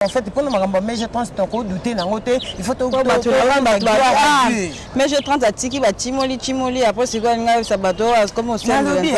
en fait mpona makambo ya mege 30 tokodute nango te ifautmege 30 atiki bacimoli cimoli apres sikoyo alingi ayebisa bato oyo akomi osalobi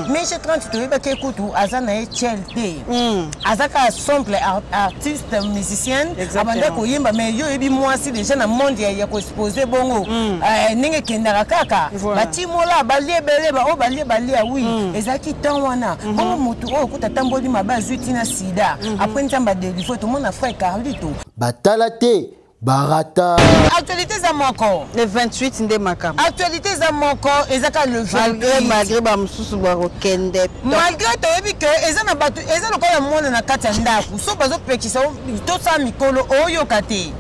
mege 30 toyebaki ekutu aza na ye chel te hmm. aza kaka simple artiste musicienne abanda koyemba mais yo oyebi mwasi deja na monde ya koexpose bongo hmm. eh, ndenge ekendaka kaka bacimola balie ebele baoyo balie balia wi hmm. ezalaki temps wana bongo motu oyo okuta atamboli mabe azwi ntina sida mm -hmm. après nzambe adelivre tomona frère carlito batala te barata actualité eza moko le 28 nde makambo actualité eza moko eza kaka le malgré malgré bamosusu bakokende malgré toyebi ke eza na bato eza lokola mwana na kati ya ndako so bazopekisa tosala mikolo oyoka te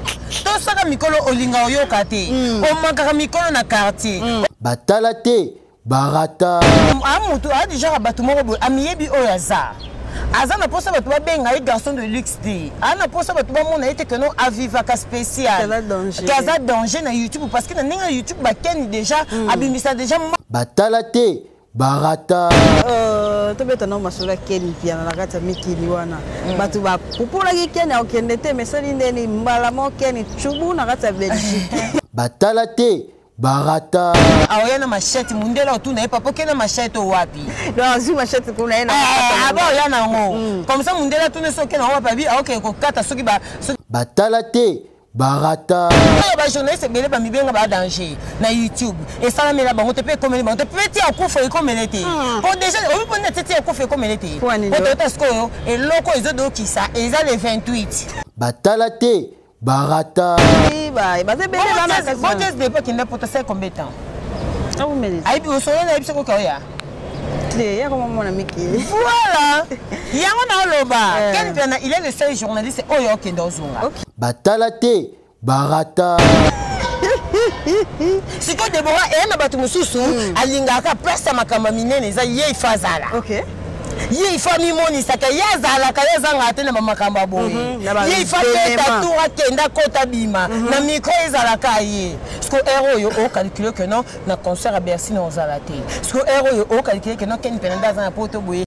tosaka mikolo olinga oyoka te hmm. omakaka mikolo na quartier hmm. batala te barata amutu ah, adijaka ah, bato moko boye amiyebi oyo aza aza na mposa bato babenga ye garçon de luxe te aza na mposa bato bamona ye te keno avivaka spécial ke aza danger na youtube parce que na ndenge na youtube bakeni déjà hmm. abimisa déjà batala te barata euh, tobeta nao masolo ya keni mpiana na kati ya mikili wana hmm. bato bapupolaki keni akokende te mesali ndeni mbala moko keni cubu na kati ya belgique batala te barata aoya na machete mundele otuna ye papa okenda machete owapi azwi machete kuna ye ah, aba oya nango mm. comme ça mundele atuna soki okenda wapi abi aokende ah, kokata soki batala te barata oyo bajournaliste ebele bamibenga badanger na youtube esalamela bango te mpe ekomeli bango te mpe ti akufa ekomele te hmm. po déjà obi mpo nde te ti akufa ekomele te po toyota sikoyo eloko ezodokisa eza le 28 batala te barata baza ebele banabotes de epoque nde poto sai combien temps ayebi osolo nayebi soki oka oya te yako mamona mikili voilà yango naoloba eh. ken mpiana il est le seul journaliste oyo oh, okende ozonga batala te barata sikoyo debora eye na bato mosusu hmm. alingaka place ya makambo minene eza ye ifa azala ye ifa mimonisaka ye azalaka ye azangaka te na bamakambo ya boye mhm, ye ifa beta tour akenda akota bima mhm. na mikro ezalaka ye siko ere oyo ocalcule ke non na concert ya bercy na ozala te siko ere oyo ocalcule ke non ken mpenza nde aza na poto boye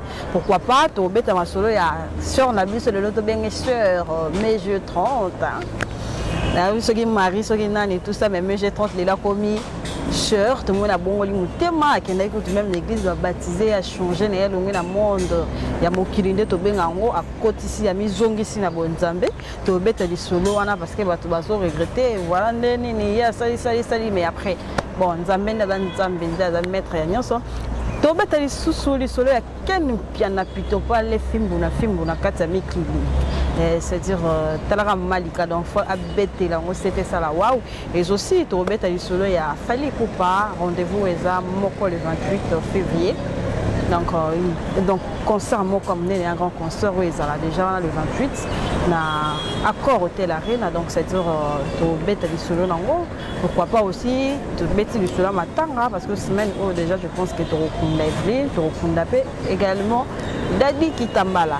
Pourquoi pas tobeta masolo ya sœur na biso lelo tobenge sœur euh, mai je 30 nayebi soki marie soki nani tout ça mais mai je 30 lelo akomi sœur tomoni abongoli motema akendaki kutu meme na église babatize achange na ye alongi na monde ya mokili nde tobenga yango akotisi ya mizongisi na bonzambe tobeta lisolo wana parce que bato bazo regrette voilà nde nini ye asali sali sali mais après bon nzambe nde aza nzambe nde aza maître ya nyonso tobeta lisusu lisolo ya ken mpiana pitopale fimbu na fimbu na kati ya mikili eh, c'est-à-dire euh, talaka malika donc fo abetela yango sete esala wawu Et aussi, tokobeta lisolo ya Fally Ipupa, rendez-vous eza moko le 28 février. Donc, euh, donc concert moko amené un grand concert oyo ezala déjà wana le 28 na accord hotel arena donc c'est à dire euh, tobeta lisolo nango pourquoi pas aussi tobeti lisolo ya matanga parce que semaine oyo déjà je pense que tokokunda evelyne tokokunda mpe également dadi kitambala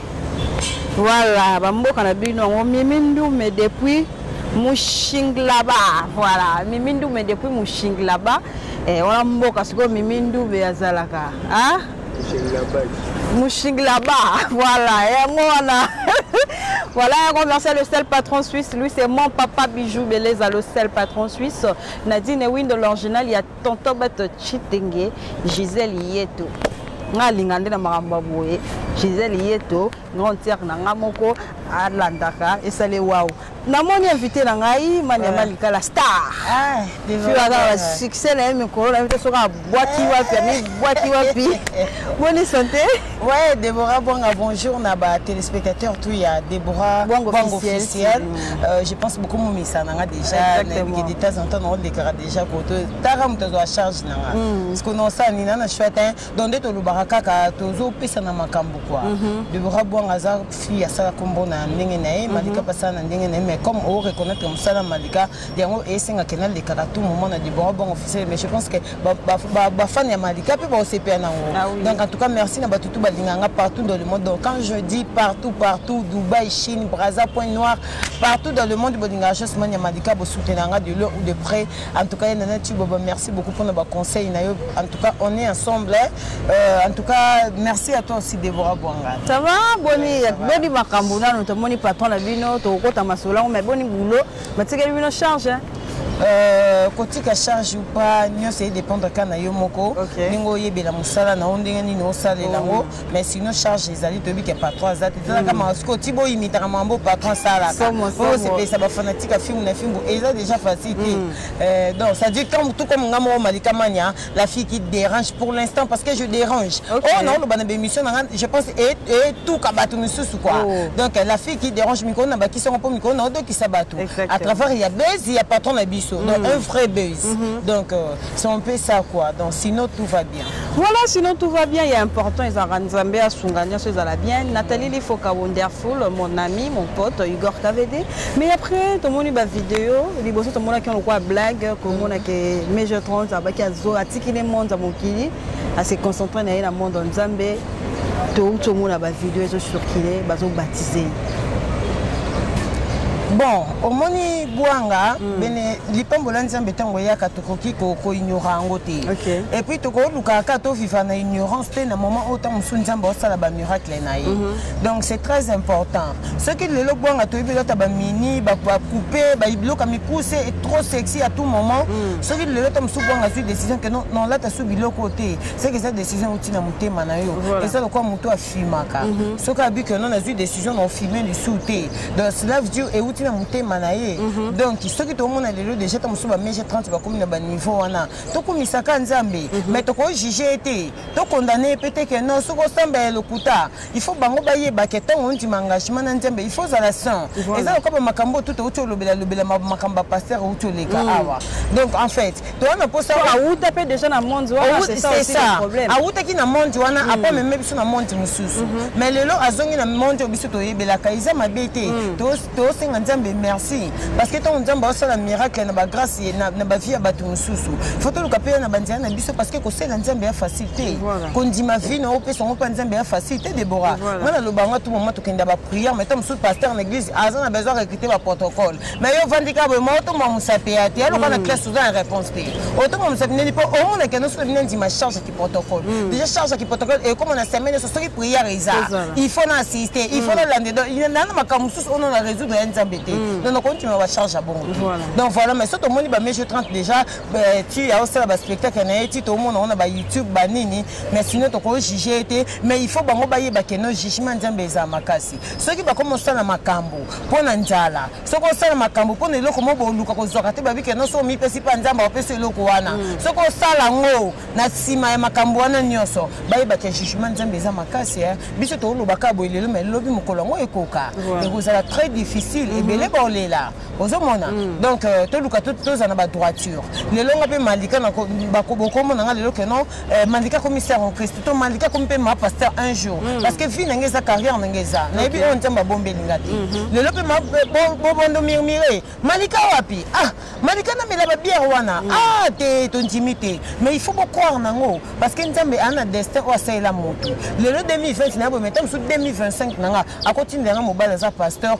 Voilà, bamboka na bino yango Mimi Ndume depuis Mushinglaba. Voilà, Mimi Ndume depuis Mushinglaba. Eh, wana mboka sikoyo Mimi Ndume azalaka. Ah? Mushinglaba. Voilà, yango wana. Voilà, un grand merci à le seul patron suisse. Lui, c'est mon papa Bijou Beleza, le seul patron suisse. Nadine Wind, l'original, il y a tonton beto chitenge gisele yeto ngai alinga nde na makambo ya boye gisele yeto grande sere na ngai moko alandaka esale wau namoni invité na ngai mani ya ah. malikala star fiwaka ah, basuccès na ye mikolo na ye te soki abwaki wapi amibwaki wapi boni sante Ouais, Déborah Bwanga, bonjour na ba téléspectateurs tout ya Déborah Bwanga officiel. officiel. Mm. Euh, je pense beaucoup mon misa nanga déjà Exactement. na des tas en temps on déclare déjà pour toi. Tara muto zo charge nanga. Mm. Parce que non ça ni nana chouette hein. Donc de to lubara kaka to zo pesa na makambo quoi. Mm -hmm. Déborah Bwanga za fille ya sala kombo na ndenge na ye, mm -hmm. Malika pasa na ndenge na ye mais comme o reconnaître musala Malika yango esenga ke nalekaka tout moment na libongo bongo officiel mais je pense que bafani ya malika mpe baosepela nango ah donc en tout cas merci na bato tu balinga nga partout dans le monde donc quand je dis partout partout dubai chine braza point noir partout dans le monde bolingaka josman ya malika bosoutenaka nga de loin ou de près en tout cas ye nana tiboba merci beaucoup mpona baconseil na yo en tout cas on est ensemble euh, en tout cas merci à toi aussi debora bwanga ça va boni boni makambo nano tomoni patron na bino tokokota masolo yango mais boni boulot batikeli bino charge hein? Euh, kotika charge ou pas nyonso edépendre kaka na yo moko ndenge oyebela mosala na yo ndenge nini osalela yango oh. mais sinon charge ezali toyebi ke patron aza te ezalaka mm. maka sikoyo ti boyimitaka mambo patron asalaka osepelisa bafanatique ya filme na fimbu eza déjà facile te mm. euh, donc ça dit tout comme nga moko malikamania la fille qui dérange pour l'instant parce que je dérange okay. oh non lobana bémission na je pense et et tout kabatu misusu quoi oh. donc la fille qui dérange miko na baki songo po miko na do ki sabatu à travers il y a buzz il y a patron na biso mm. donc un vrai buzz mm -hmm. donc euh, c'est un peu ça quoi donc sinon tout va bien voilà sinon tout va bien il est important ils en nzambe asunga nionso ezala bien Nathalie Lifoka wonderful mon ami mon pote Igor Kavede mais après tomoni bavideo liboso tomonaki yango lokola blague komona ke major trans abaki azo atiki ne monde ya mokili ase concentre na ye na monde ya nzambe touti tomona bavideo ezocircule bazobatize bon omoni gwanga mm. bene lipambo la nzambe ntango eyaka tokoki koignora yango te okay. epuis tokolukaka kaka toviva na ignorance te na moment oyo ntango mosusu nzambe osala bamiracle na ye mm -hmm. donc c'est très important soki lelo bwanga toyebi elata bamini bakupe biloko ya mikuse e trop sexy à tout moment mm. soki lelo ta mosusu bwanga azwi décision ke nolata su biloko oyo te seke eza décision outi na motema na yo eza lokola moto afimaka mhm. soki abi ke non azwi décision na ofime lisu te donc cela veut dire euti na motema na ye mhm. donc soki tomona lelo déjà ta mosusu bameje 30 bakomi na baniveau wana tokumisaka nzambe mais mhm. tokojuge ye te tokondane ye pe te ke non soki osamba ya lokuta il faut bango bayeba ke ntango ondima engagement na nzambe il faut ozala saint eza lokola bamakambo oyo tuta outi olobela lobela makambo bapaster outi oleka mm. awa donc en fait toza na mposa awuta mpe déjà na monde wanaawutaki na monde wana mm. apo ameme biso na monde mosusu mm-hmm. mais lelo azongi na monde oyo biso toyebelaka eza mabe te mm. tosenga nzambe merci parce que ntango nzambe aosala miracle na bagrace na bavie ya bato mosusu fo toluka mpe na banzela na biso parce que kosala nzambe ya facile te kondima vie na opesa yango mpe nzambe ya facile te debora nga naloba yango tu moma tokenda baprière mai ta mosusu pasteur na église aza na besoin recrute baprotocole mai yo ovandika boye ma otoma mosape ya te aloka na classe oza na réponse te otoma mosape nini mpo omonaka noso bino ndima charge protocole mm. déjà charge ki protocole et comme on a semaine sur soki prière eza il faut na assister il faut na lande donc il y a na makambo mosusu oyo na résoudre ya nzambe te donc na continue ba charge ya bongo donc voilà mais soki tomoni ba mesure 30 déjà euh, tu ya osala ba spectacle na ye ti tomona ona ba youtube ba nini mais sinon tokoki juge te mais il faut bango bayeba ke no jugement nzambe eza makasi soki bakoma osala makambo mpo na nzala soki osala makambo mpo na eloko moko boluka kozwaka te babike no soki omipesi mpe nzambe apesi eloko wana mm. soki osala yango na nsima ya makambo wana nyonso bayebaka jugement nzambe eza makasi eh. biso tokolobaka boye lelo mai lobi mokolo yango ekoka ekozala très difficile mm-hmm. ebele baolela ozomona mm. donc euh, toluka tozala na badroiture lelo nga mpe malika bokomona nga lelo keno Eh, mandika akomi ser en christ to mandika akomi mpe ma pasteur un jour mm. parce que vie na ngai eza carrière na ngai eza nayebi oyo nzambe abombeli nga te mhm. lelo mpe bobondo mirmire malika wapi ah malika namela babiere wana mm. ah te tondimi te mais il faut bocroire nango parce que nzambe aa na destin oyo asalela moto lelo 2020 na yabometa mosusu 2025 na nga akotindela nga mobali aza pasteur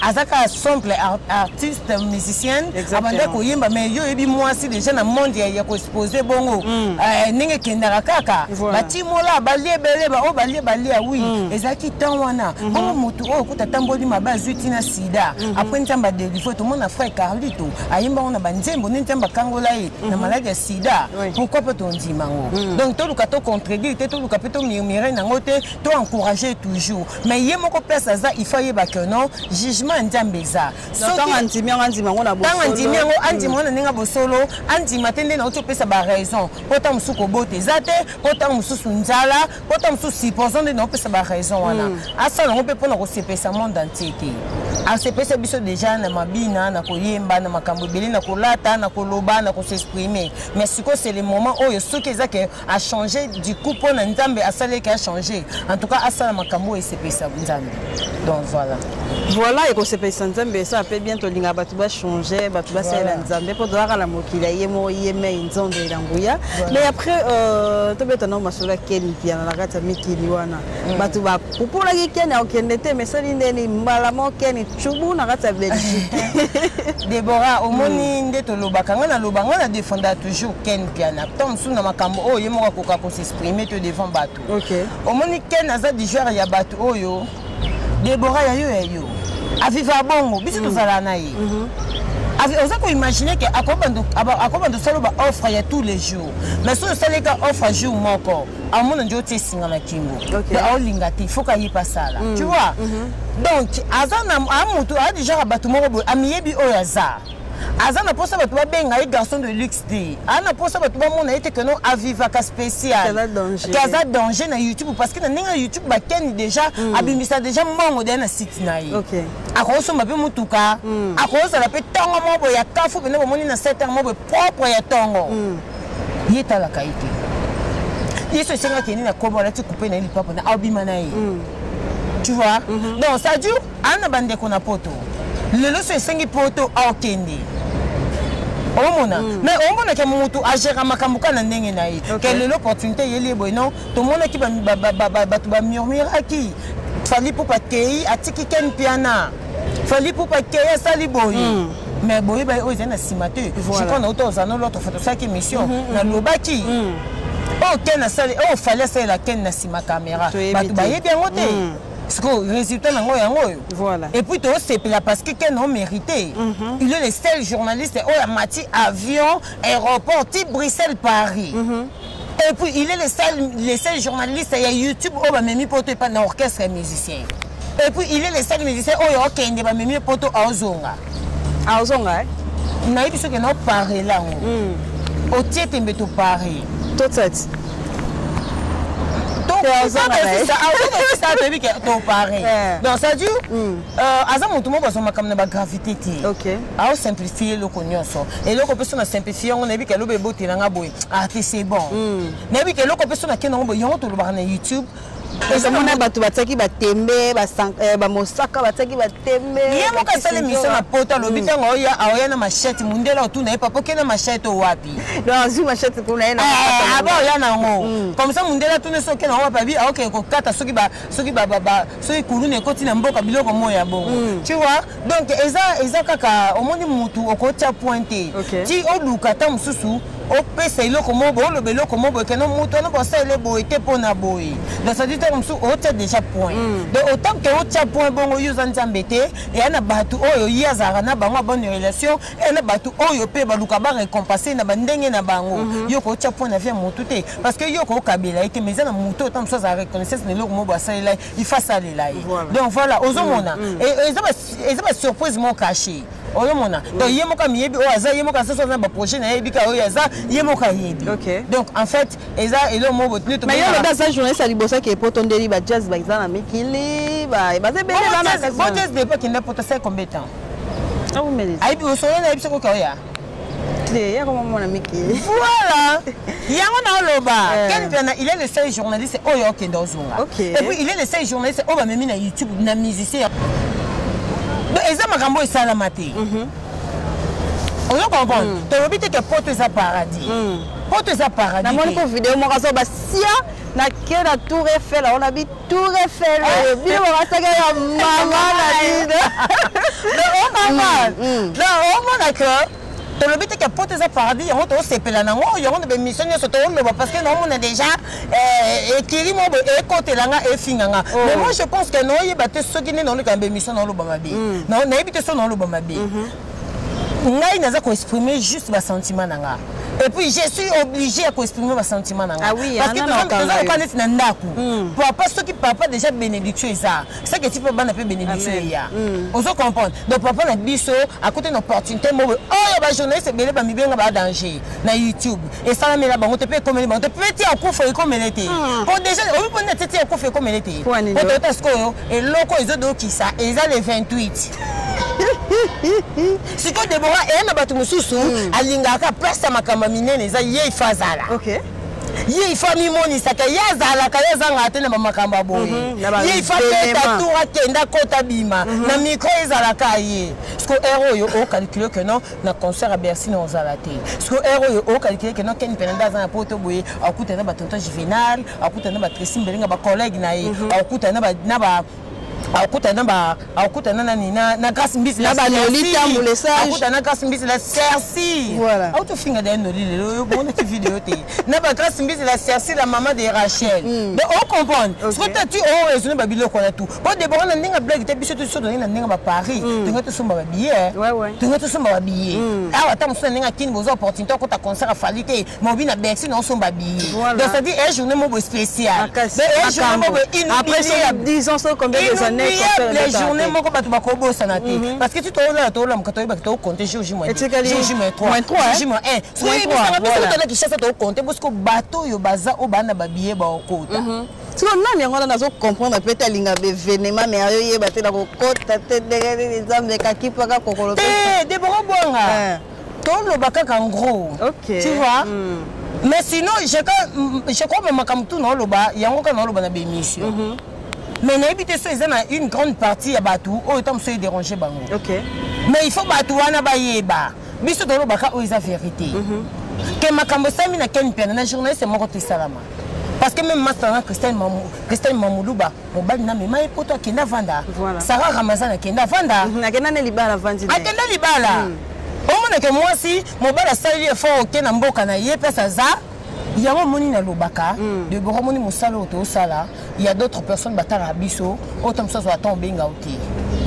aza kaka simple artiste musicienne abanda koyemba mais yo oyebi mwasi déjà na monde ya koexpose bongo hmm. eh, ndenge ekendaka kaka batimola balie ebele baoyo oh, balie balia wi hmm. ezalaki temps wana hmm. bongo motu oyo okuta atamboli mabe azwi ntina sida apres nzambe adelivre tomona frère carlito ayemba ngo na banzembo nde nzambe akangola ye na maladi ya sida pourkui mpe tondima ngo donc toluka tocontredire te toluka mpe tomurmire nango te toencourage toujours mais ye moko place aza il faut ayeba que non jugement ya nzambe eza tanga ndimi yango andima yango na tanga ndimi yango andima yango na ndenge ya bosolo andima te nde nauti opesa baraison mpo ntango mosusu kobota eza te mpo ntango mosusu nzala mpo ntango mosusu supposant nde naopesa baraison wana hmm. asala yango mpe mpo na kosepesa monde entier te asepesa biso deja na mabina na koyemba na makambo ebele na kolata na koloba na kosexprime mais sikoyo c'est le moment oyo soki eza ke a changer du coup mpo na nzambe asalaki a changer en tout cas asala makambo oyo esepelisa nzambe donc voilà voilà ekosepelisa nzambe esa mpe bien tolinga bato bachange bato basalela nzambe mpo tozalaka na mokili ya ye moko ye mei nzondo ela nguya mais après euh, tobeta nao masolo ya keni mpiana na kati ya mikili wana mm. bato opolaki keni akokende te mesali ndeni mbala moko keni cubu na kati ya belgique debora omoni hmm. nde tolobaka ngai naloba ngai na defenda toujours ken piana to mosusu na makambo oyo ye moko akoka kosexprime to devant bato omoni ken aza du genre ya bato oyo debora ya yo ya yo aviva bongo biso hmm. tozala na ye mhm. oza koimagine ke akobanda osala baoffre ya tous les jours mais soki osaleka offre jour moko amona nde otie esinga na kingo okay. aolinga te faut kaye mpe asala mm. tu vois mm -hmm. donc aza na amotu aza déjà ka bato moko boye amiyebi oyo aza aza na mposa bato babenga ye garçon de luxe te aza na mposa bato bamona ye te keno avivaka spécial ke aza danger na youtube parce que na ndenge ya youtube bakeni déjà mm. abimisa déjà mbongo deya na site na ye okay. akosomba mpe motuka mm. akozala mpe ntongo moko boye ya kafu mpenza bomoni na 7 heure moko boye propre ya ntongo mm. ye etalaka ye te yesu esengaki ene na kobo alati kupe na ye lipapa na abima na ye mm. tu vois mm -hmm. donc ça dure aa na bandeko na poto lelo so esengi poto aokende omona mm. mais omonaka motu agera makambo kaka na ndenge na ye ke lelo opportunité eyeli ye boye non tomonaki bato bamurmuraki fali pupa kei atiki ken mpiana fali pupa kei asali boye mm. mais boyeba oyo ezali na nsima te jukua nauta ozana lotre foto osalaki émission mm-hmm, mm-hmm. nalobaki mm. oyo ken asali oyo fali asalela ken na nsima kamera bato bayebi yango te mm. sikoyo résultat nango yango oyo voilà. et puis tosepela parce que ken omérité mm -hmm. il est le seul journaliste oyo amati avion aéroport ti bruxelles paris mm -hmm. et puis il est le seul, le seul journaliste ya youtube oyo bamemi poto epa na orchestre ya musicien et puis il est le seul musicien oyo okende bamemi poto aozonga aozonga eh? nayebi soki na opare lango mm. otie tembe topare totati toyebi ke topare donc ça dure hmm. euh, aza motu moko azwa makambo na bagravité te aosimplifie eloko nyonso eloko mpe so na simplifie yango nayebi ke aloba ebotela nga boye ah te c'est bon nayebi ke eloko mpe so nakenda yango yango tolobaka na youtube ezomona bato batiaki batembe eh, bamosaka batiaki batembe ye moko asali miso na poto alobi mm. ntango oya aoya na machete mundela otuna ye papa oke na machete owapi azwi machete kuna ye eh, aba oya na yango mm. comme ça mundela tuna so oke na yango wapi abi aokee kokata soki kuluna ekoti na mboka biloko moya bongo mm. tu vois donc eza eza kaka omoni mutu okotya point te okay. ti oluka ata mosusu opesa eloko moko boye oloba eloko moko boye keno moto wana bosalela boye te mpo na boye donc sadi ntango mosusu otya déjà point mm. donc otango ke otya point bongo yo oza nzambe te eya na bato oyo ye azalaka na bango abone relation eya na bato oyo mpe baluka barecompense na bandenge na bango mhm. yo kootya point na vie ya motu te parce que yo kookabela ye te mais eza na moto otango mosusu azala reconnaissance na eloko moko boye asalela ye il faut asalela ye donc voilà ozomona mm, mm. eza basurprise mo caché oyomona mm. donc ye moko amiyebi oyo aza ye moko asoso na baprojet na yebi ka oyo aza ye moko ayebi donc en fait eza elo mo botuni mais yo lobi aza journaliste ya liboso ake poto ndeli ba jazz baza na mikili baza ebele bana jazz depo kende poto sai combien temps ayebi osolo na yebi soki okoya te ya koma mwana mikili voilà yango naoloba eh. ken mpiana il est le seul journaliste oyo okende ozonga et puis il est le seul journaliste oyo bamemi na youtube na musicien eza makambo oyo esalama te mhm. ozo comprendre mm. tolobi te ke poto eza paradis mm. poto eza paradis namoni ko video moko azoba sia na ke na tour efela ona bi Tour Eiffel oyo eh. bino babasaka ya mama na bino omama mm, na omona mm. que tolobi te ke poto eza paradis yango tosepela nango yango na bemission nyonso toloba parce que naomona déjà eh, ekiri mo boye ekotela nga efinga nga oh. mais moi je pense que naoyeba te soki nde naoleka na bemission naoloba mabe mm. nayebi te soki naoloba mabe mm-hmm. ngai naza koexprime juste basentiment na nga et puis je suis obligé ya koexprime basentiment na nga ah oui, parce que toza lokola neti na ndako hmm. papa soki papa déjà bénédiction eza seke eti mpe bana mpe bénédiction eya hmm. ozo comprendre donc papa na biso akote na opportunité moko oyo bajournaliste ebele bamibenga badanger na youtube esalami na bango te mpe ekomeli bango te mpe ti akufa ekomele te hmm. po deja oyebi mpo nini ati ti akufa ekomele te po toyota sikoyo eloko ezodokisa eza le 28 sikoyo debora eye na bato mosusu hmm. alingaka place ya makambo ya minene eza ye ifa azala ye ifa amimonisaka ye azalaka ye azangaka te na bamakambo ya boye mhm, ye ifa peta tour akenda kota bima mhm. na mikro ezalaka ye siko ere oyo okalcule ke non na concert ya bercy na ozala te siko ere oyo okalkile ke no ken penanda aza na poto boye akutana na batonton juvenal akutana na batresi mbelenga bacollègue na ye mhm. akutana na ba akutana ba akutana nani na na grâce mbisi na ba lolita mulesa akutana grâce mbisi la cerci voilà au to finga d'ailleurs noli lelo yo bon tu vidéo te na ba grâce mbisi la cerci la maman de Rachel mm. mais on comprend okay. ce que tu as tu oh raisonné ba biloko na tout po debora na ndenge blague te biso toso tozali na ndenge ba paris mm. tolinga tosomba babillet tolinga tosomba babillet mm. awa ata mosusu na ndenge akini boza opportunité akota concert afali te mobi na bercy na osomba billet donc ça dit un journée mobo spécial un journée mobo inoubliable journée moko bato bakobosana te mm-hmm. parce que ti toolala toolamuka toyebaki tokokonte jour j moins 3 j moins 1 soki ebisanga biso totala kishasa tokokonte bosiko bato oyo baza oyo baa na babillet baokota mm-hmm. siko nani yango wana nazo comprendre peut alinga bevenema me ayo yeba te na kokota te ndenge nini nzambe ekakipaka kokolo te eh, debora bwanga eh. toloba kaka ngro tu vois mm. mais sinon je crois me makambo tu naoloba yango kaka naoloba na bemission mm -hmm. mais nayebi te so eza na une grande partie ya bato oyo ntango mosusu edérange bango okay. mais il faut bato wana bayeba biso tolobaka oyo eza vérité mm -hmm. ke makambo esalami na ken mpiana na journaliste moko te esalama parce que même masta na christelle mamu christelle mamuluba mobali na mema ye poto akenda vanda voilà. sarah ramazan akenda vanda mhm, akenda na libala vandi akenda libala mm. omonake mwasi mobali asali effort oke na mboka na ye place aza yango omoni nalobaka mm. debora omoni mosala oyo tosala il y a d'autres personnes batala biso autant que ça soit temps benga ote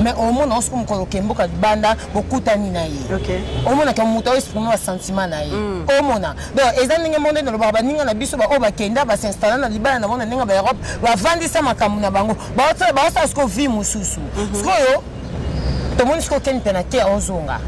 mais au moins on se comme ko kembo ka banda bokuta ni na ye okay au moins ka muta exprimer wa sentiment na ye mm. au moins donc eza ninga monde na loba baninga na biso ba o bakenda ba s'installer na libala na mona ninga ba Europe ba vandisa makambo na bango ba sa ba sa ce ko vie mususu mhm. ce ko yo to moni ce ko ken pena te ozonga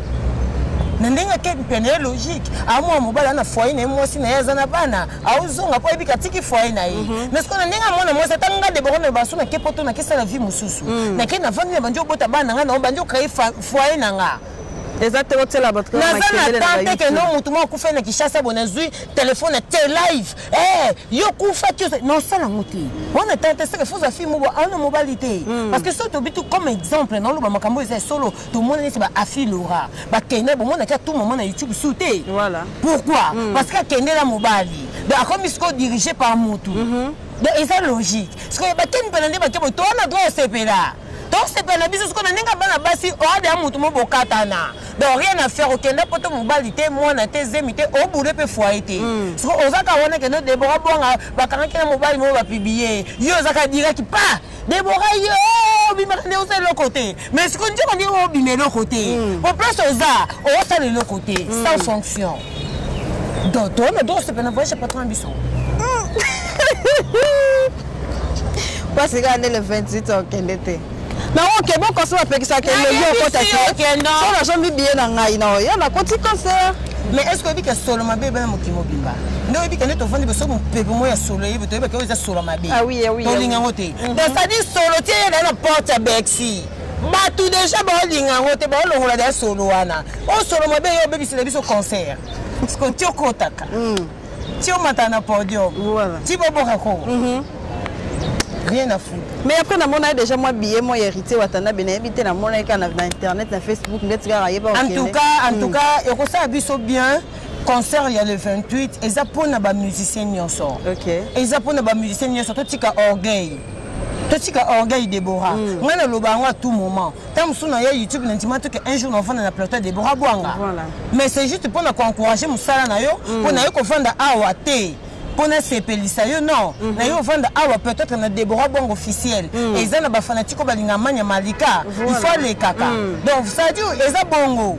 na ndenge akei mpene ya logique amwa mobali ana foye na ye mwasi na ye aza na bana aozonga mpo ayebi katiki foye na ye mhm. mais sikoyo na ndenge amona mwasi ata nga debora na baso nake poto nakesala vie mosusu mm. nake na vandi na bandi obota bana na nga nao bandi okraye foye na nga eza te otyela bato naza na tan te ke no motu moko akufa na kinshasa bo nazwi telefone na te live eh, yo kufaki nosala yango te wana tan te seke fozwa fi mobo aona mobali te hmm. parce que soki tobitu comme exemple naoloba makambo eza ya solo tomona neti ba afi lora bakenda bomona kia tout moment na youtube su te voilà. pourquoi mm. parce que akende na mobali donc akomi sikoyo dirige par mutu mm -hmm. donc eza logique sikoyo bakeni mpena nde bakebo towana droit osepela tosepela na biso sikoyo na ndenge bana basi oade ya motu mo bokatana donc rien à faire okenda poto mobali te mwana te zemi te obule mpe foye te mm. sikoyo ozaka wana kende debora bwanga bakangaki na mobali moko bapiblie yo ozaka diraki pa debora yo obimaka nde osala eloko te mais sikoyo nzoka ndenge obima eloko te po hmm. place oza osala eloko te hmm. sans fonction donc toyona tokosepela na voyage ya patron ya biso pasika nde le 28 okende te nango oke bokosi bapekisaka elongi okota te so nazombi biye na ngai na oyo nakoti concert mais est ce que oyebi ke solo mabe ebana mokili mobimba nde oyebi kende tovandi boso mopepe moko ya solo eyebi toyebaki oyo eza solo mabe ah ah tolinga yango te mhm. donc sadi solo tie ye na na porte ya bexi bato deja baolinga yango te baolongola deya solo wana oyo solo mabe ye obebisela biso concert sikoyo ti okotaka mm. ti omata na podium ti boboka kongo mhm. rien à foutre mais après namonaki déjà mwa billet mwa héritier watanabe nayebi te namonaki kaka na internet na facebook ndeti kaka yeba en tout cas en tout mm. cas ekosala biso bien concert ya le 28 eza mpo na bamusicien nyonso eza mpo na bamusicien nyonso totika orgueil totika orgueil debora mm. ngai naloba yango à tout moment ntango mosusu na ya youtube nandima te ke un jour navanda na plateau ya debora bwanga Voilà. mais c'est juste mpo na koencourage mosala na yo mpo na ye kovanda awa te mpo nasepelisa yo non na yo ovanda awa peut-être na debora bwango officiel eza na bafanatike oyo balinga manya malika il faut alekaka donc sadi eza bongo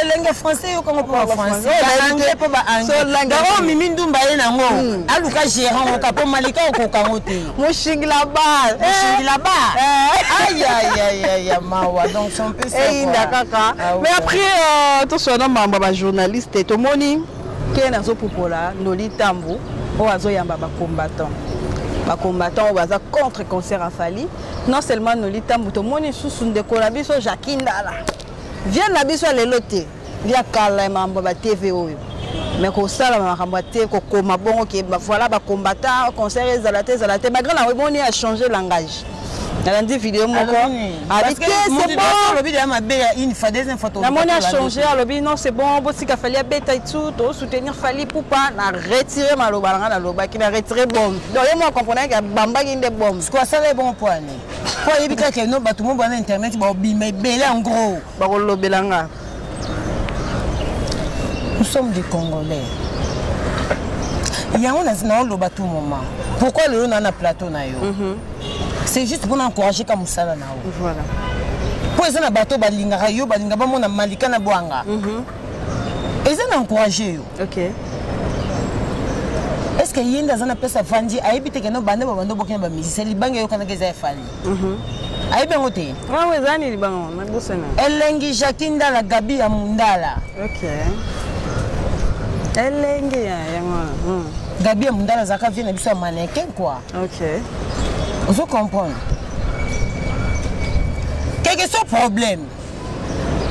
elenge eh, français yokango mpo bafrançaisangais mpo baanglais mimi ndumba ye nango hmm. aluka gérant oka mpo malika okoka ngo te moshingila bar eh. moshingila bar eh. ayayayaya mawa donc son mpe eyinda kaka ah mais après euh, toswa na mambo ya bajournaliste tomoni ke nazopupola noli tambu oyo azoyamba bacombattant bacombattant oyo baza contre concert afali non seulement noli tambu tomoni lisusu ndeko na biso jacqui ndala Viande na biso ya lelo te, ya kala ya mambo ba TV oyo. Mais kosala makambo te, kokoma bongo ke ba voilà ba combattant, concert ezala te ezala te. Malgré na omoni a changer langage. nalandi video moko abi te c'est bon olobi deya mabe ya une fois deuxième fois namoni a changer alobi non c'est bon botika fali abeta et tout to soutenir fali poupa na retire maloba na ngai nalobaki na retire bombe donc ye moko comprendre ke abambaki nde bombe sikoyo asala ye bongo mpo ani po ayebi kaka keno bato mo bana internet baobima ebele en gros bakolobela nga nous sommes des congolais yango naoloba tout moment pourquoi lelo naa na plateau na yo mhm. c'est juste mpona encourage ka mosala na yo mpo eza na bato balingaka yo balinga bamona malika na bwanga mhm. eza na encourage yo okay. est ce que ye nde aza na place afandi ayebi te keno bande babanda obokina bamusicien libanga eyokanaka eza efali mhm. ayebi yango te elengi jacki ndala gabi ya mundala elengi yango hmm. gabi ya mundala azalaka vie na biso ya mannequin kua ozo comprendre quelque soit problème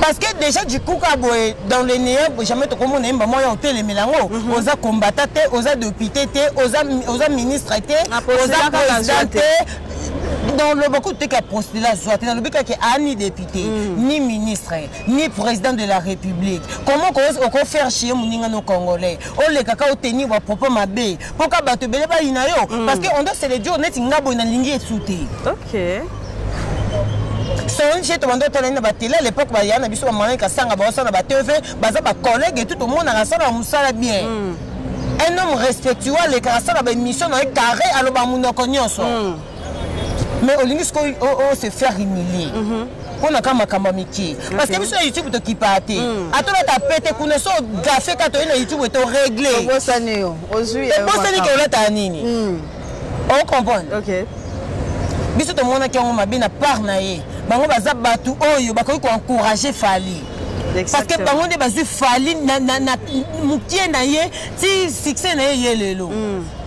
parce que déjà du coup ka boye dans le néant jamais tokomona yemba moko ya otelemela yango mhm. oza combata te oza député te oza, oza ministre te oza président te dans le beaucoup te ka postula zwa te nalobi kaka ani député mm. ni ministre ni président de la république comment okofaire chie moninga no congolais olekaka oteni bapropos mabe mpo ka bato ebele bayina yo mm. parce que on doit se le dire neti nga boye nalingi esu te okay. songe tobanda otalani na batele à l'époque baya na biso bamalani kasanga baosa na batv baza bacollègue etu tomonaka asala na mosala bien mm. un homme respectueux alekaka asala baémission na ye carré aloba monoko nyonso mm. mais olingi sikoyo o oh, oh, se faire humilier mm -hmm. mpo na ka makambo ya mike parce que biso na youtube tokipaa te mm. ata olata pete kuna so gafe ka toyei na youtube to regle obosani yo ozwi obosani ke olataka nini mm. ocomprendre biso tomonaki yango mabe na part na ye bango baza bato oyo bakoki koencourage fali parce que bango nde bazwi fali mokie na ye ti succès na ye ye lelo mm.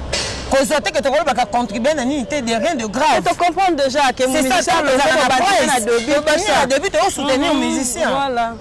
kozwa te ke tokolobaka contribue na nini te de rien de grave tocomprendre déjà ke debut toosoutenir mhm. musicien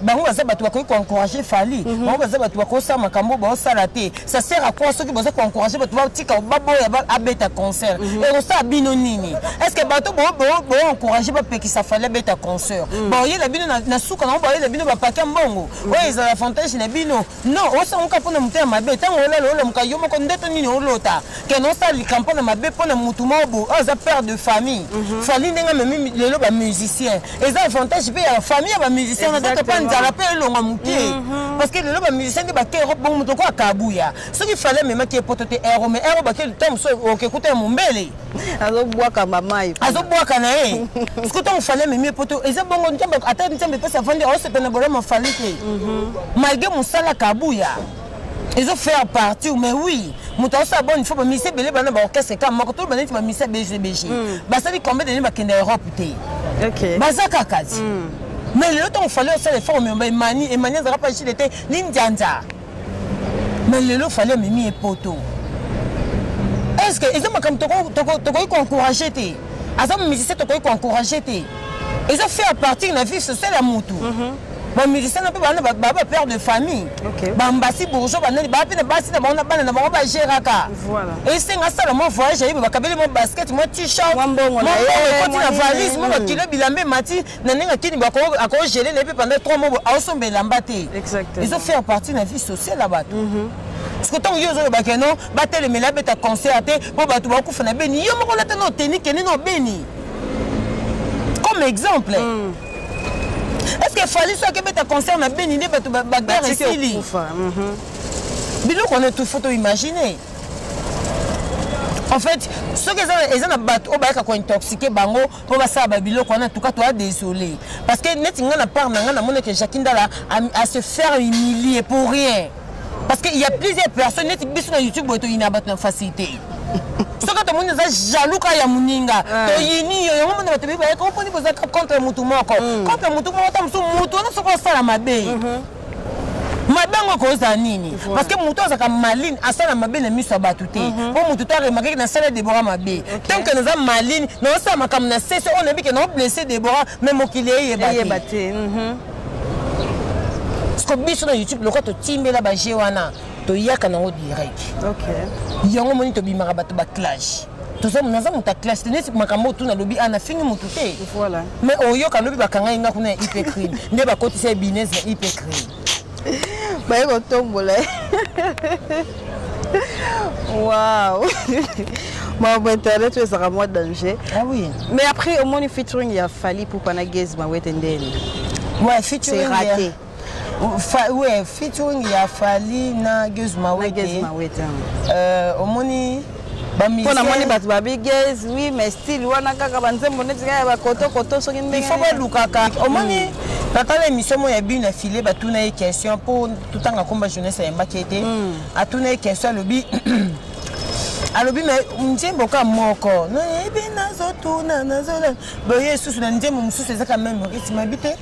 bango baza bato bakoki koencourage fali mhm. bango baza bato bakosala makambo baosala te ça sert à quoi soki boza koencourage bato batika baboya abeta concert mhm. ekosala bino nini est ce que bato boencourage bapekisa fali abeta concert baoyela bino na suka nango baoyela bino bapake mbongo oyo ezala avantage na bino No, osanguka mpo na motema mabe ntango olala olamuka yo moko ndoto nini olota kena osala likambo na mabe mpo na motu moko bo oyo aza père de famille mhm. fali ndenge amemi lelo bamusicien eza avantage mpe ya famille ya bamusicien na ndoto mpe nzala mpe elonga moke mhm. parce que lelo bamusicien nde bake europe bongo moto oko akabuya soki fali amemaki ye poto te ero me ero bake ntango mosusu okekuta ya mombele azobwaka bamai azobwaka na ye soki ntango fali amemi ye poto eza bongo nzambe ata nzambe epesi avandi aosepela na bolama fali te mhm. malgre mosala kabuya ezo faire partir mais oui moto asala boni fo bamisi ebele bana baorchestre kaka moko toloba neti bamisi ya bgbg mm. basali combien deni bakenda europe te baza kaka ti mm. mais lelo ntango fali osala efort omema emani emani azalaka mpa chile te lindianza mais lelo fali amemi ye poto est ce que eza makambo tokoki koencourage te aza musicien tokoki koencourage te eza fait à partir na vie sociale ya motu mhm. bamusicien na mpe bana baa bapère de famille bambasi bourgeois banani baa mpe na basi na bango na bana na bango bagéraka esenga asala mwa voyage ayebe bakabeli mwa basket mwa t-shirt mwa mbongo ekoti na valise mwa bakilo bilamba emati na ndenge akini bo akogele na ye mpe pendant 3 mois aosomba elamba te ezo faire partie na vie sociale ya bato mhm. parceke ntango yo ozoloba keno batelemela abeta concert te mpo bato bakufa na beni yo moko olata na oteni kende na obeni comme exemple mm. est ce que fali soki ebeta concert na beni nde bato baguerre esili mhm. biloko wana etufu to imagine en fait soki eza na bato oyo bayaka kointoxike bango mpo basala babiloko wana tuka toya désolé parce que neti ngai na part na ngai namoneke jacqui ndala à se faire humilier pour rien parce que il y a plusieurs personnes neti biso na youtube boye toyina bato na facilité soki tomoni oza jaloux ka ya moninga toyini yo yango mona bato bibayaka oponi bozalaka contre motu moko contre motu moko ta mosusu motu wana soki osala mabe mabe yango ekozala nini parce que moto azalaka maline asala mabe na miso ya bato te mhm. mpo moto to aremakaki nasala debora mabe tant que naza maline naosala makambo na sese oyo nayebi ke naoblesse debora mais mokili eyeba te mhm. parceke biso na youtube lokola totimbela baje wana toyaka nango direct yango moni tobimaka bato baclage toza naza moto ya classe te neti makambo oyo tuna lobi ana fingi motu te voilà mais oyoka lobi bakanga ye nga kuna ya ipecrime nde bakotisa ye binese na ipecrime baye kotombola ye wow makambo internet oyo ezalaka mwa danger ah oui mais après omoni featuring ya fali pupa na gazma wete ndeni ouais, featuring c'est raté yeah. Fa, ouais, featuring ya Fally na Geuse Mawete. Na Geuse Mawete. Euh, omoni mpo namoni bato babi ges oui mais style wana kaka banzembo neti kaka ya bakotokoto soki ndengefo balukaka omoni hmm. natala émission moko ya bino na file batuna ye question mpo totanga komba jeunesse ayembaki ete hmm. atuna ye question alobi alobi me nzembo ka moko nayebi nazotuna nazolana boye esusu na nzembo mosusu ezaka meme rythme abi te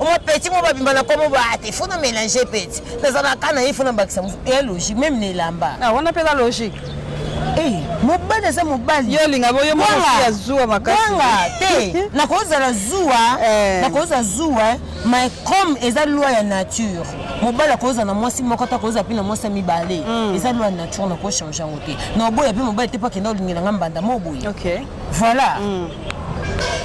omo petit mo babimba na komo ba te faut na mélanger petit naza na kana ye faut na bakisa musu ya logique même na elamba ah wana peza logique eh mobali aza mobali yo linga boyo mo ya zuwa makasi banga te nakozala zuwa eh. nakozala zuwa mais comme eza loi ya nature mobali akozala na mwasi moko ata akozala mpe na mwasi ya mibale hmm. eza loi ya nature nakochange yango te na oboya mpe mobali te mpo akenda olingela nga mbanda mo oboye voilà hmm.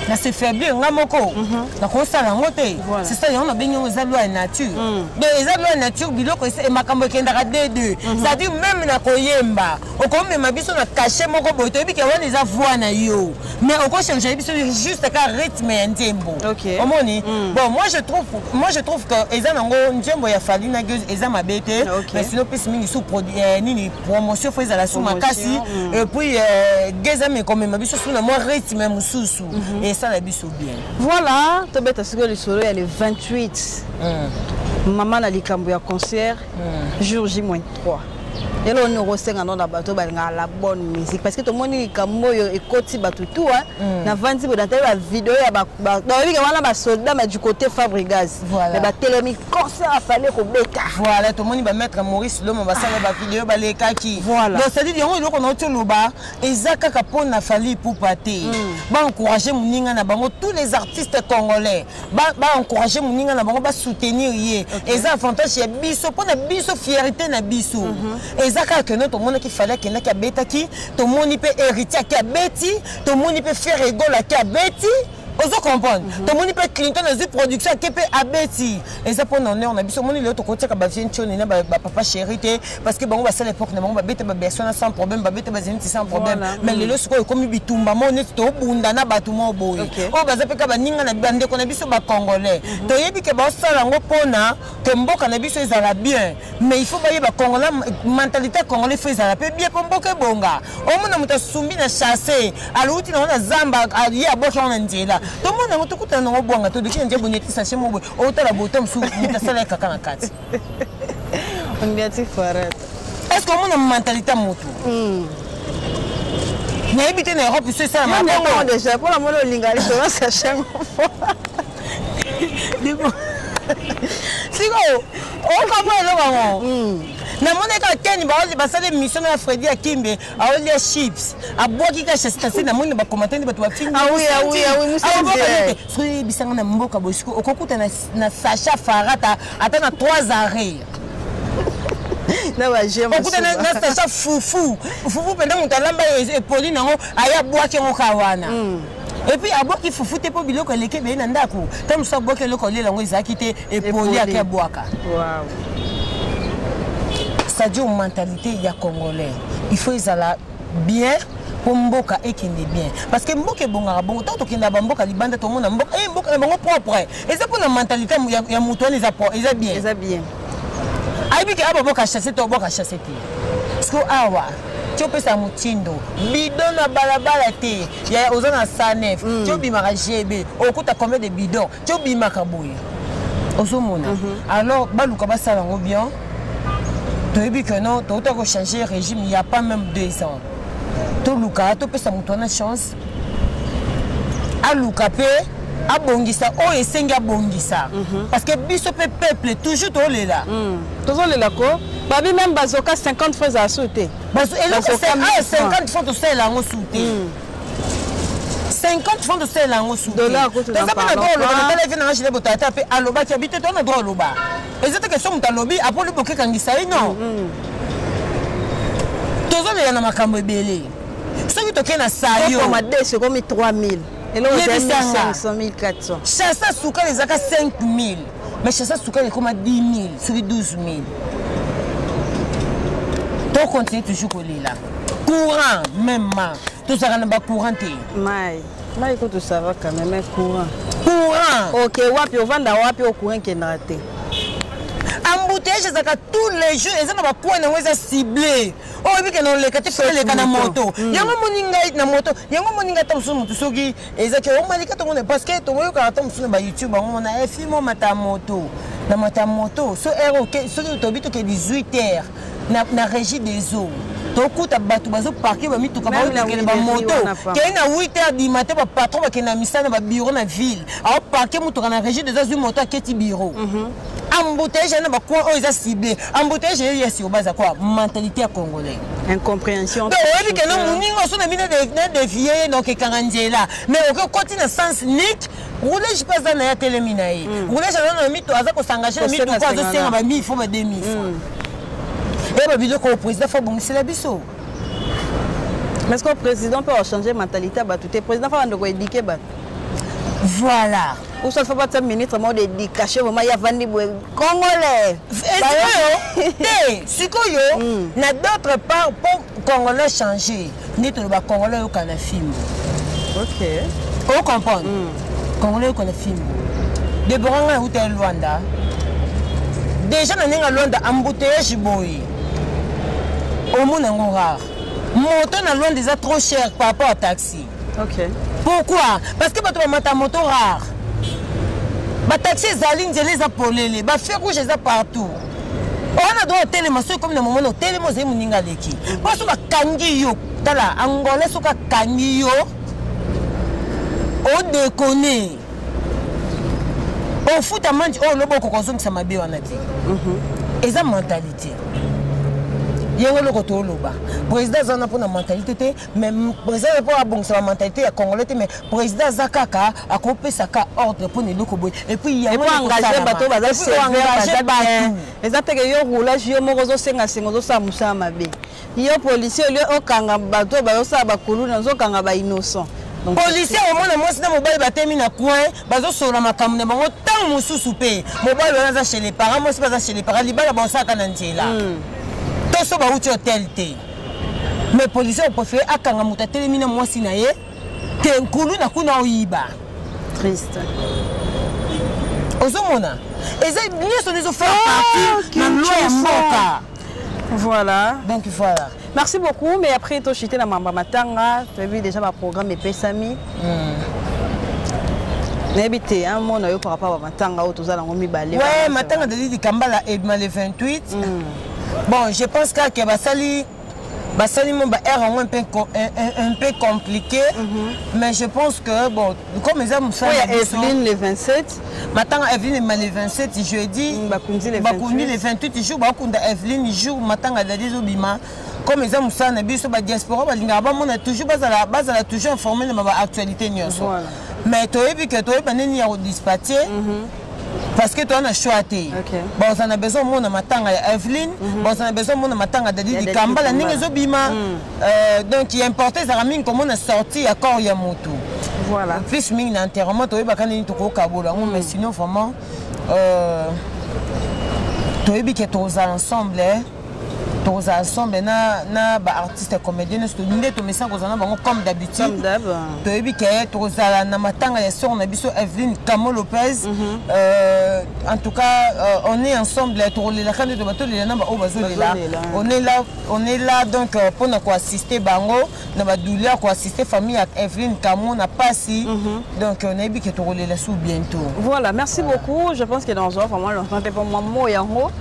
na se faiblir nga moko mhm. nakosala yango te c'est ça yango nabengi yango eza loi ya nature mm. donc eza loi ya nature biloko e makambo ekendaka de deux mhm. c'est-à-dire meme na koyemba okomema biso na cachet moko boye toyebi ke wana eza voix na yo mais okochange biso juste ka rythme ya nzembo omoni mm. bon moi je trouve moi je trouve que eza nango nzembo ya fali na gueuse eza mabe te mais sinon pesi mingi sous produit eh, nini promotion fo ezala su makasi mm. et puis euh, gezam ekomema biso su na mwa rythme mosusu mhm. esala biso bien voilà tobeta sikoyo lisolo ya le 28 mm. mama na likambo ya concert mm. jour j 3 lelo oni okosenga no na bato balingaka la bonne musique parce que tomoni likambo oyo ekoti bato tua navandi bodatali bavideo ya baobike wana basoldat ma du côté fabrigas voilà. mais batelemi concert afale kobeta voilà tomoni bamaître maurice loma basala ah. bavideo balekaki voilà. donc cetadire yango eloko na oti oloba eza kaka mpo na fali pupa te mm. baencourage moninga na bango tous les artistes congolais baencourage ba moninga na bango basoutenir ye okay. eza avantage ya biso mpo na biso fierité na biso mm -hmm. eza kaka keno tomonaki fali akendaki abetaki tomoni mpe héritier ake abeti tomoni mpe ferre egol ake abeti ozo comprendre mm -hmm. tomoni mpe clinton azwi production ake mpe abeti eza mpo na honneur na biso omoni lelo tokotiaka bavie ncioni na bapapa chéri te parce que bango basala époque na bango babeta babersion na sans problème babeta bazeniti sans problème voilà. mais mm. lelo sikoyo ekomi bitumba moko neti tobunda na bato moko boye okay. oyo baza mpeka baninga na bandeko na biso bacongolais mm -hmm. toyebi ke baosala yango mpo na ke mboka na biso ezala bien mais il faut bayeba congolais mentalité ya congolais faut ezala mpe bie mpo mboka ebonga omona moto asumbi na chasse alouti nango na zamba ye abwaki yango na nzela tomona yango tokutana nango bwanga todoki na nzela bonyeti sache moboy otala bota mosusu moto asala ye kaka na kati est ce que omona mentalité ya motu hmm. nayebi te na europe so esalama déjà mpona mona olinga lisolo sache sikoyo okamwa eloko yango hmm. namonaki kaka keni basali émission na fredi ya kimbe aolia chips abwaki ka chestasi namoni na bakomante nde bato bafingisoki oyebisanga na mboka bosiko okokuta na sacha farata ata na 3 arret okuta na sacha fufu fufu mpenza moto alamba epoli nango aya abwaki yango ka wana hmm. epuis abwaki fufu te mpo biloko eleki ebele na ndako ntango mosusu abwaki eloko olela yango ezalaki te epoli ake abwaka wow. sadio mentalité ya congolais il faut ezala bien mpo mboka ekende bien parce que mboka ebongaka bongo ntango tokenda bamboka libanda tomona mboka e mboka na bango propre eza mpo na mentalité ya moto wana eza bien eza bien ayebi ke aboboka chasse to oboka chasse te parceke awa ti opesa motindo bidon na balabala te oza na sanef ti obimaka gb okuta combien de bidon ti obimaka boye ozomona mhm. alors baluka basala yango bien toyebi que non touta kochange régime ya pas même deux ans toluka topesa moto wana chance aluka mpe abongisa oyo oh, esengi abongisa mhm. parce que biso mpe peuple toujours tolela mm. tozolela ko babi meme bazoka 50 fois ezala su te eloko 50 fois tosalela yango su te 50 francs tosalela yango sutoza bana droit oloba natala efe nanga gile botata mpe alobaki abi te tona droit oloba eza te question moto alobi apoli bokekangisa ye non mm-hmm. tozolela na makambo ebele soki tokei na sayomadesi ekomi 3000 yebisanga chasa sukali ezaka 5000 mais chasa sukali ekoma 10 000 soki 12 000 to continue toujours kolela courant même ma tozalaka na bacourant te mai mai kutu sava quand même mais courant courant ok wapi ovanda wapi o courant ekendaka te embouteillage ezalaka tous les jours eza na bacoin yango eza cible oyo oh, ebikena oleka te oleka na moto mm. yango moni ngai na moto yango moni ngai ta mosusu motu soki eza ke omalika tongo ne parce que tongo yokaka to mosusu na ba youtube bango mona eh, fimo mata moto na mata moto so heure oke soki tobi toke 18 heures na, na régie des eaux tokuta bato bazoparke bamituka baolekele bamoto kei na 8 heures du matin bapatron bakende na misala na babiro na ville aoparke motuka na régie des azwi moto aketi biro mhm. embouteillage ya na bacoin oyo eza cible embouteillage ye ya siroba aza kwa mentalité ya congolais incompréhension donc oyebi kende moninga oso na bino na devie ye donc ekanga nzela mais oke okoti na sens unique roulage mpe aza na ye atelemi na ye hmm. roulage aza na mito aza kosangaje na mituko azosenga bamille fo ba 2000 hmm. eye babiloko oyo président fo abongisela biso mais ce que président mpe achange mentalité ya bato te président fo abanda koedike bato voilà ou soit faut battre ministre moko d'éducation vraiment ya vandi boye congolais sikoyo te sikoyo hmm. na d'autre part mpo congolais change nde toloba congolais oyoka na fimbo ok ocomprendre hmm. congolais oyoka na fimbo debora ngai euta ya lwanda déjà na ndenge ya lwanda embouteillage boye omona yango rare moto na lwanda eza trop cher par rapport à taxi taxi okay. pourquoi parce que bato bamata moto rare bataxi ezali nzela eza polele bafe rouge eza partout wana do otelema soki ekomi na momona otelema ozali moninga aleki mpo soki akangi yo tala angola soki akangi yo odekone ofuta manji oyo oh, loba okoka ozongisa mabe wana te mhm. eza mentalite yango eloko tooloba président aza wana mpo na mentalite te mais président ye mpo abongisa ba mentalité ya congolais te mais président aza kaka akopesa ka ordre mpo na eloko boye epuis yangoengage bato oyo baza seengage bato eza mpeke yo roulage yo moko ozosenga senga ozosala mosala mabe yo policier olio okanga bato oyo bazosala bakuluna ozokanga ba innocent policier omona mwasi na mobali batemi na coin bazosolola makambo na bango ntango mosusu mpe mobali wana aza chez le parent mwasi mpe aza chez le parent libala baosalaka na nzela hmm. toso bauti hotel te mais policier oprefere akanga moto atelemi na mwasi na ye te nkulu na kuna oyiba triste ozomona eza nyonso nde ezofaire ah, parti na loi ya mboka voilà donc voilà merci beaucoup mais après tochite na mamba matanga toyebi déjà baprogramme epesami mm. nayebi te un mot na yo par rapport ya matanga oyo toza nango mibale matanga tozali likambala edma le 28 bon je pense kaka ke basali basali mo ba heure yango un peu un peu compliqué mm -hmm. mais je pense que bon comme eza mosala ya Evelyne le 27 matanga Evelyne ma le 27 jeudi mm, bakundi le 28 bakundi le 28 jour bakunda Evelyne jour matanga dadi ezobima comme eza mosala na biso badiaspora balingaka bamona toujours bazala bazala toujours informe na baactualité nyonso mais toyebi ke toyeba nini ya kodispatye mhm. parce que toza na choix te baoza na besoin omona matanga ya eveline mhm. baoza na besoin omona matanga dadi dikambala ndenge ezobima mhm. euh, donc ya importe ezalaka mingi komona sorti ya corps ya motu voilà. plus mingi na enterrement toyebaka nini tokokabola yango mais mhm. sinon vraiment euh, toyebi ke tozala ensemble eh. tokozala sombe na, na baartiste comédien nyonso nde tomesana kozala na bango comme d'habitude toyebi ke tokozala na matanga ya sor na biso eveline camo lopez mm -hmm. euh, en tout cas euh, on est ensemble tokolelaka nde toba tolela na baoyo bazolela on est là on est là donc euh, mpona koassiste bango na ba douleur ko assister famille ya Evelyn Kamo na pasi mm -hmm. donc on a que tokolela sous bientôt voilà merci voilà. beaucoup je pense que dans un vraiment longtemps te pour moi mo yango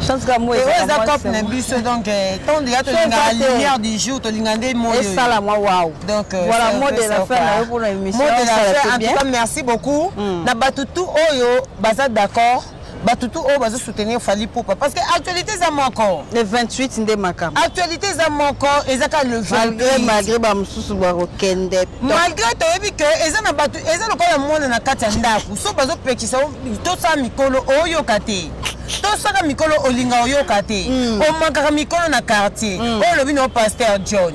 chance ka moi eza cop na biso donc eh, tant de ya to linga lumière du jour to linga nde moi et ça la moi waouh donc euh, voilà mot de la fin na pour l'émission mot de la fin en tout cas merci beaucoup mm. na batutu oyo baza d'accord bato tu oyo bazo soutenir fali pupa parce que actualité eza moko le 28 nde makambo actualité eza moko eza kaka le malgré malgré bamosusu bakokende malgré toyebi ke eza na bato eza lokola mwana na kati ya ndako so bazopekisa tosala mikolo oyoka te tosaka mikolo olinga oyoka te hmm. omakaka mikolo na quartier hmm. oyo olobi na yo paster john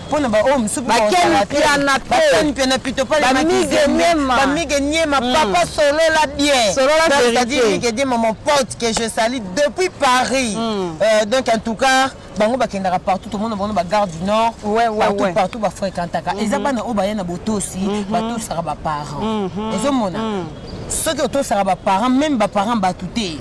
mpona baoyo mosusu bakenpiana pekenpiana pito palemamige niema hmm. papa solola bienmige ma mon pote que je sali depuis paris hmm. euh, donc en tout cas bango bakendaka partout tomona bango na bagare du nord partout partout bafréquentaka eza mhm. bana oyo baya na botosi mhm. batosaka baparent mhm. ozomona soki otosaka baparent meme baparent bato te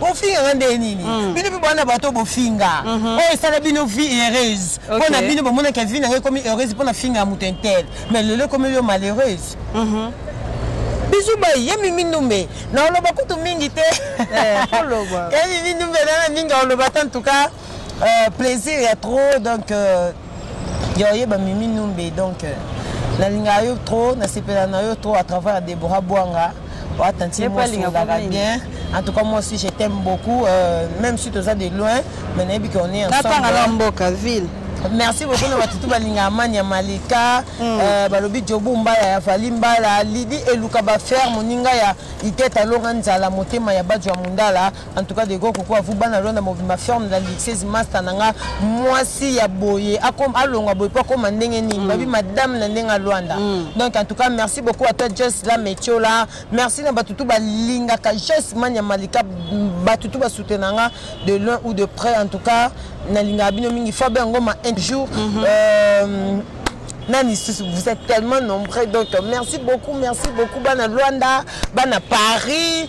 bofingaka nde nini mm. bino mpe bwana bato bofinga mhm. oyo oh, esala bino vie heureuse mpo na bino bomonaka vie nanga ekomi heureuse mpo na finga ya moto intel mais lelo ekomeli yo malheureuse mhm. bizu bai ye mimi ndumbe na oloba kutu mingi te eh, ye mimi ndumbe nana mingi oloba te en tout cas euh, plaisir ya trop donc euh, ya oyeba mimi numbe donc euh, nalingaka yo trop nasepela na yo trop à travers debora bwanga oa tantie mwasi olingaka bien en tout cas moi aussi je t'aime beaucoup euh, même si toza de loin mais nayebi que on est ensemble na mboka ville merci beaucoup na bato tu balingaka mani ya malika hmm. euh, balobi jobu mbala ya fali mbala lidi eluka baferre moninga ya itete alonga nzala motema ya bajo ya mondala En tout cas, Dego Koko, vous bana lona ma ferme la lixeuse master nanga mwasi ya boye akom alonga boye po akoma ndenge nini mm. babi madame na ndenge alwanda mm. donc en tout cas merci beaucoup à toi Joyce la Metiola merci na batutu balingaka Joyce Mania Malika batutu basutena nga de loin ou de près en tout cas nalingaka bino mingi Fabien Ngoma un jour mm -hmm. euh, nani susu vous êtes tellement nombreux donc merci beaucoup merci beaucoup bana Luanda bana Paris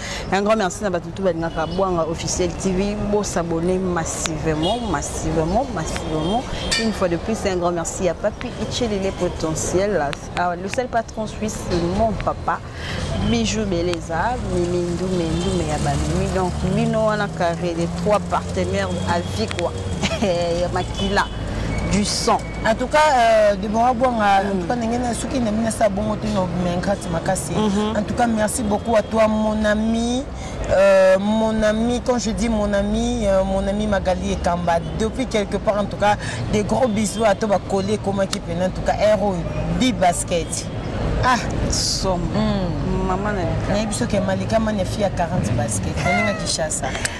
Un grand merci na bato tout balingaka Bwanga Officiel TV. Bo s'abonner massivement, massivement, massivement. Une fois de plus, un grand merci à Papi Ichelile Potentiel, à le seul patron suisse, mon papa, Bijou Beleza, Mimi Ndoumé, Ndoumé Yabalimi. Donc, Bino Wana Carré, les trois partenaires à Vicwa, Makila, du sang. en tout cas euh, Deborah Bouanga en tout cas ndenge na soki na mina sa bongo tino mengrate makasi mhm. en tout cas merci beaucoup à toi mon ami euh, mon ami quand je dis mon ami euh, mon ami Magali Ekamba depuis quelque part en tout cas des gros bisous à toi ba coller comment qui peut en tout cas héros bi basket ah somo mm. mama na biso ke malika mani ya fille ya 40 basket oninga kishasa